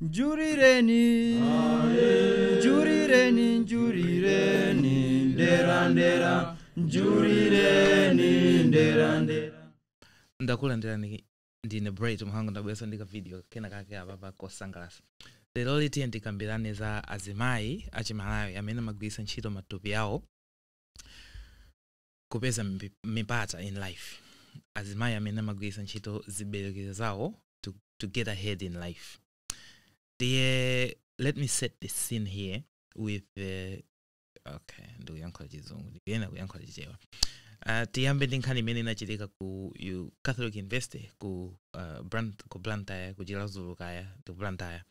njurireni njurireni njurireni nderandera njurireni nderandera ndakulandirani ndine bright mhango ndabweranso ndi kavidiyo kena kake apapa kosangalatsa leroli tiyeni tikambirane za azimayi achimalawi amene amagwiritsa ntchito matupi awo kupeza mbi- mipata in life azimayi amene amagwiritsa ntchito ziberekero zawo to, to get ahead in life ndiye let me set the scene here with the okay ndikuyankhula chizungu ndikuyenera kuyankhula chichewa uh, tiyambe ndi nkhani imene inachitika ku U- catholic university ku, uh, Brand, ku blantyre ku chiradzulu kaya ndi ku blantyre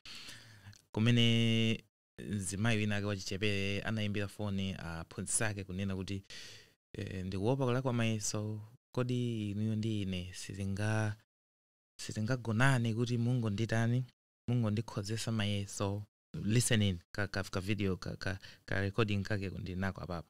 kumene Mzimayi wina ake wachichepere anaimbira foni aphunzitsi ake kunena kuti, eh, ndikuopa kulakwa mayeso. Kodi inuyo ndi ine sitinga sitingagonane kuti mungonditani mungondikhozetsa mayeso? Listen in ka, ka, ka video ka, ka, ka recording kakeko ndili nako apapa.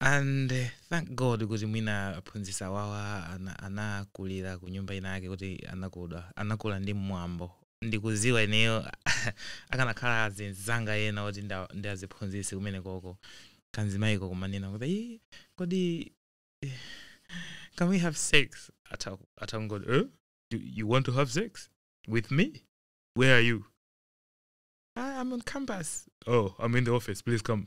and eh, thank god kuti mwina aphunzitsi awawa ana- anakulira ku nyumba ina yake kuti anakula anakula ndi mwambo ndikuziwa ineyo akanakhala azinzanga ena oti nda- ndi aziphunzitsi kumene koko kanzimayiko kamanena kuti "Ii, kodi eh, can we have sex Ata- atangoti eh? you, you want to have sex with me where are you I, i'm on campus oh i'm in the office please come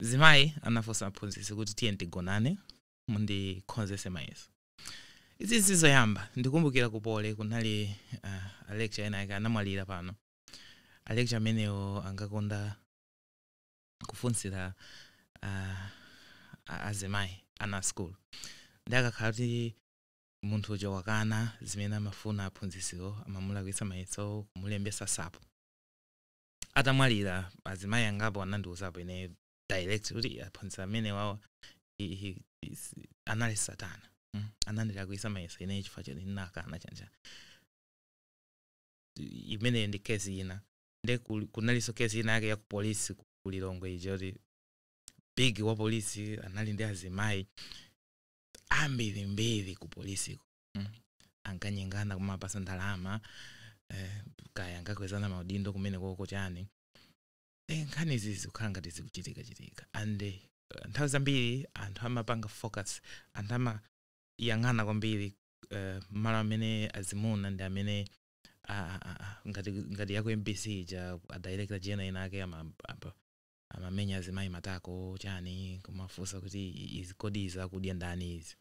zimayi anafunsa aphunzitsi kuti tiyeni tigonane mundikhozetse mayeso izi sizoyamba ndikumbukira ku poly kunali uh, alecturer ena ake anamwalira pano alecturer amenewo ankakonda kufunsira uh, a- azimayi ana asukulu nde akakhala kuti munthu uja wakana zimene amafuna aphunzisiwo amamulakwitsa mayeso kumulembesa sapo atamwalira azimayi angapo anandiuzapo ine direct kuti aphunzitsi amenewawa he- he- is- anali satana Mm. anandilakwisa mayeso ine chifukwa choti ndinakana chanicha imeneyo ndi kesi ina nde kul- kunalinso kesi ina yake ya ku polisi ku ku lilongwe ija kuti big wa polisi anali ndi azimayi ambirimbiri ku polisiko mm. ankanyengana kumawapasa ndalama eh, kaya ankakwezana maudindo kumene koko chani eh, nkhani izi zikukhala ngati zikuchitika chitika and eh, nthawi zambiri anthu amapanga focus anthu amayang'ana kwambiri eh, malo amene azimuna ndi amene ah, ah, ah, ngati ngati ya ku mbc ija adirector general ina ake ama- apa- amamenya azimayi matako chani kumafunsa kuti i- izi kodi izi akudya ndani izi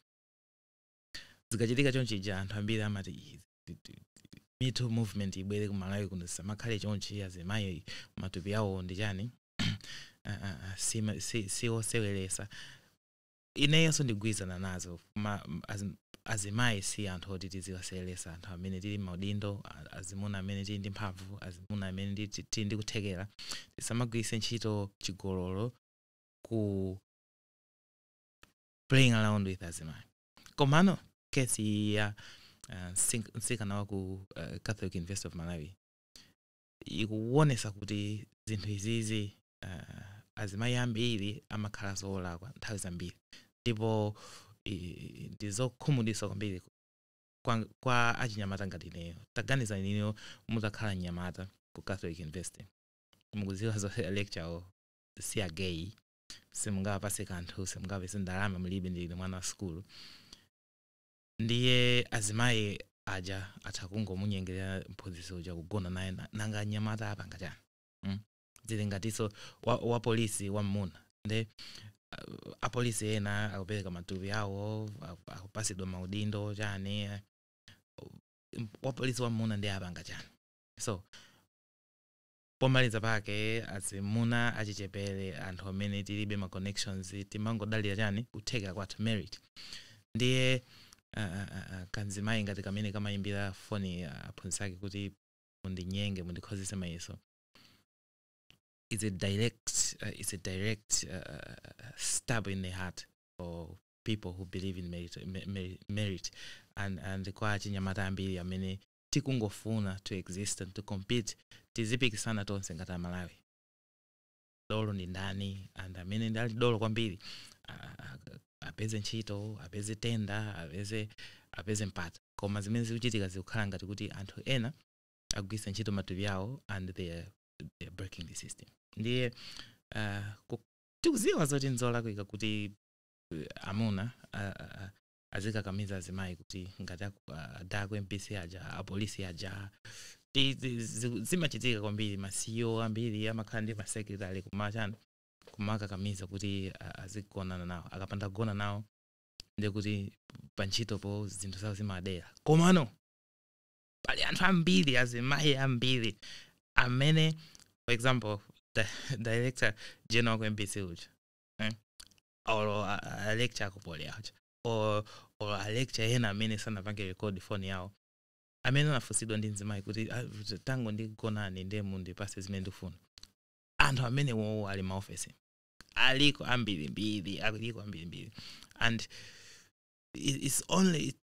zikachitika chonchija anthu ambiri amati "Ih, ti- ti- ti- Me Too movement ibwere ku Malawi kuno zisamakhale chonchi azimayi matupi awo ndi chani Ah, ah, ah, si ma- si- si oseweresa ineyonso ndigwirizana nazo ma- m- azi- azimayi si anthu oti tiziwaseweresa anthu amene tili maudindo a- azimuna amene tili ndi mphamvu azimuna amene ndi- ti- tili ndi kuthekera tisamagwiritse ntchito chigololo ku playing around with azimayi komano case iyi ya uh, msink- mtsikana wa ku uh, Catholic University of Malawi ikuwonesa kuti zinthu izizi uh, azimayi ambiri amakhala olakwa nthawi zambiri ndipo i- ndi zokhumudwitsa kwambiri kwa, kwa achinyamata ngati ineyo taganizani inuyo mutakhala mnyamata ku Catholic University mukudziwa zoti lecturer si a gay simungawapatse kanthu simungawapatse ndalama mulibe ndinu mwana wa sukulu ndiye azimayi aja atha kungomunyengerera mphunzitsi uja kugona naye na- nanga anyamata apanga chani mm? zili ngatinso wa, wa polisi wa mmuna nde uh, apolisi ena akupereka matupi awo aku- akupasidwa maudindo chani eh, wapolisi wa mmuna ndiye apanga chani so Pomaliza pake azimuna achichepere anthu amene tilibe ma connections timangodalira chani kuthekera kwathu merit ndiye ah ah ah ah kanzimayi ngati kamene kamayimbira foni aphunzitsi ake kuti mundinyenge mundikhozetse mayeso is a direct uh, is a direct uh, uh, stab in the heart for people who believe in merit, me- me- merit. and and kwa achinyamata ambiri amene tikungofuna to exist and to compete tizipikisana tonse ngati aMalawi dolo ndi ndani and amene ndi ali dolo kwambiri a- a- apeze ntchito apeze tender apeze apeze mpata koma zimene zikuchitika zikukhala ngati kuti anthu ena akugwiritsa ntchito matupi awo and they are, they are breaking the system ndiye uh, ku- tikudziwa zoti nzolakwika kuti uh, amuna uh, uh, azikakamiza azimayi kuti ngati aku- ah, a DG ku MBC aja apolisi aja Ti- ti- zi- zimachitika kwambiri ma CEO ambiri amakhala ndi masekretary kumachani kumakakamiza kuti a- azigonana nawo akapanda kugona nawo ndiye kuti pantchitopo zinthu zawo zimadera komano pali anthu ambiri azimayi ambiri amene for example di- director general ku MBC uja eh, or uh, uh, lecture akupole aja or or a lecture ena amene sanapange record phone yawo amene anafunsidwa ndi mzimayi kuti "Ah, tangondigonani ndiye mundipase zimene ndikufuna anthu amene wowo ali mmaofesi aliko ambirimbiri aliko ambirimbiri and i- it's only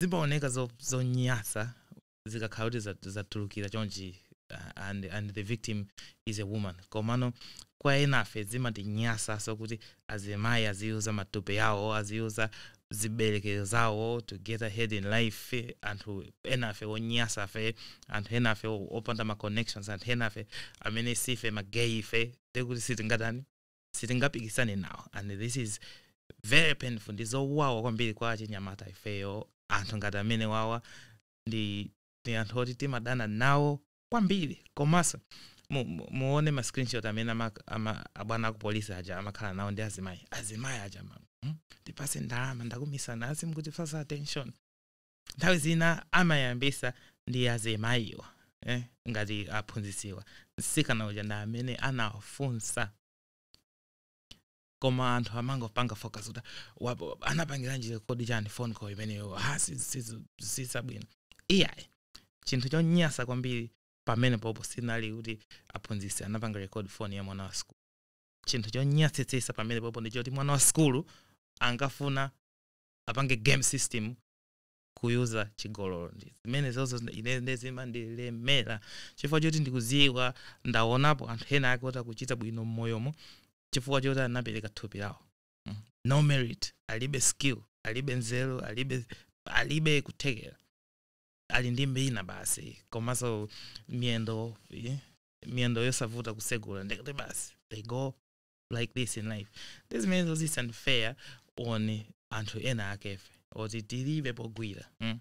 zimaoneka zo- zonyasa zikakhala kuti za- zatulukira chonchi uh, and, and the victim is a woman komano kwa enafe zimatinyasaso kuti azimayi aziyuza matupi yawo aziyuza ziberekero zawo to get ahead in life eh, anthu enafe onyasafe anthu enafe o- opanda ma connections anthu enafe amene sife magay ife ndekuti sitingatani sitingapikisane nawo and this is very painful ndi zowawa kwambiri kwa achinyamata ifeyo anthu ngati amene wawa ndi ndi anthu oti timadana nawo kwambiri komanso mu- mu- muone ma screenshot amene ama- ama- abwana aku polisi aja amakhala nawo ndi azimayi azimayi aja ma- hmm? ndipase ndalama ndakumisa nasi mukundipasa attention nthawi zina amayambisa ndi azimayiwa eh, ngati aphunzisiwa msikana uja ndi amene anawafunsa koma anthu amangopanga focus kuti wapo- anapangiranji record chani phone call imeneyo ha si- si- sizabwino iyayi chinthu chonyasa kwambiri pamene popo sinali kuti aphunzisi anapanga record phone ya mwana wa sikulu chinthu chonyasitsisa pamene popo ndi choti mwana wa sikulu ankafuna apange game system kuyuza chigololo zimene zozo ine nde zimandilemera chifukwa choti ndikuziwa ndaonapo anthu ena ake oti akuchita bwino mmoyomo chifukwa choti anapereka thupi lawo Mm. no merit alibe skill alibe nzeru alibe alibe kuthekera ali ndi mbina basi komanso miyendo eh, miyendo yosavuta kusegula ndikuti basi they go like this in life ndi zimene zozo it's unfair on anthu ena akefe oti tilibe pogwira mm?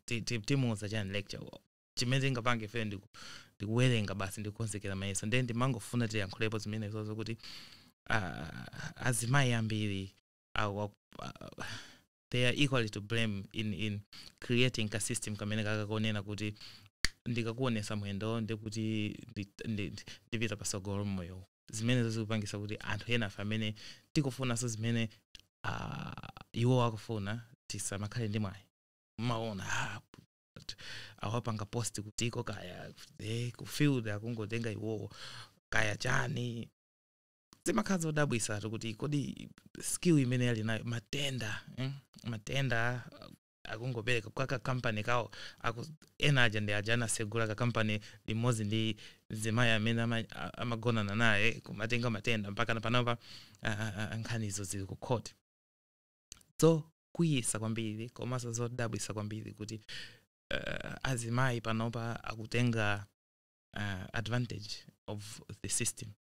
Ti- ti- timuuza chani lecture wo chimene tingapange ife ndi ku- ndi kuwerenga basi ndi kukonzekera mayeso ndiye ndimangofuna tiyankhulepo zimene zozo kuti ah, azimayi ambiri awa- ah, they are equally to blame in, in creating ka system kamene kakakonena kuti ndikakuonesa mwendo ndekuti ndi- ndi- ndi- ndipita pasogolo mmoyo zimenezo zikupangisa kuti anthu enafe amene tikufunanso zimene ah, iwo akufuna tisamakhale ndi mwayi mwaona ah, but awapanga post kutiko kaya eh, kufield akungotenga iwowo kaya chani zimakhala zodabwisa kuti kodi skill imene ali nayo ma tender eh? ma tender akungopereka kwa kakampani kawo aku ena aja ndi aja anatsegula kakampani limodzi ndi mzimayi amene ama- a- amagonana naye kumatenga ma tender mpaka na panopa a- a- a- nkhanizo zili ku court zokwiyisa kwambiri komanso zodabwisa kwambiri kuti uh, azimayi panopa akutenga uh, advantage of the system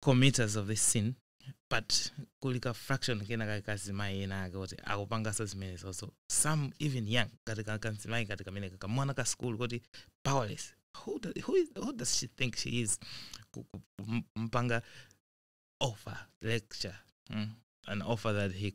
committers of this sin but kuli ka fraction kena ka azimayi ena ake kuti akupanganso zimenezo so some even young kati kakamzimayi kati kamene kakamwana ka school kuti powerless who, do, who, is, who does she think she is Ku- ku- m- mpanga offer lecturer mm? an offer that he